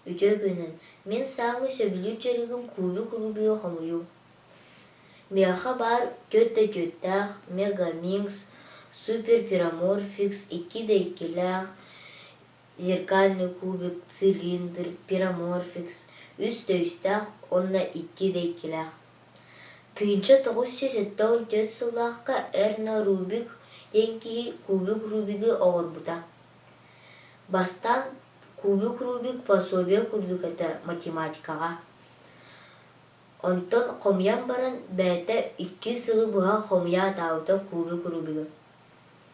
Үтүө күнүн! Мин саамай сөбүлүүр дьарыгым куулу-кулубуйу холуйуу. Миэхэ баар түөрт да түөртээх Мега Миҥс, Супер Пироморфикс икки да иккилээх зеркальный кубик, цилиндр, пироморфикс, үс төүстээх уонна икки дэйкилээх. Тыынча тоҕус сүүс сэттэ он түөрт сыллаахка Эрно Рубик диэн киһи кубик Рубигы оҥорбута. Бастаан кубик Рубик пособие курдук этэ математикаҕа. Онтон хомуйан баран бэйэтэ икки сылы быһа хомуйа атаабыта кубик Рубигы.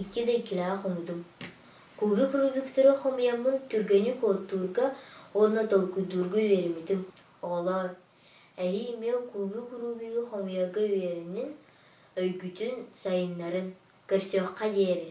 Икки да иккилээх хомуйдум. Кубик рубиктары хомуйаммын түргэнник оттуурга уонна толкуйдуурга үөрэммитим. Оҕолоор, эйии эмиэ кубик рубигы хомуйарга үөрэнин, өйгүтүн сайыннарын, көрсүөххэ диэри.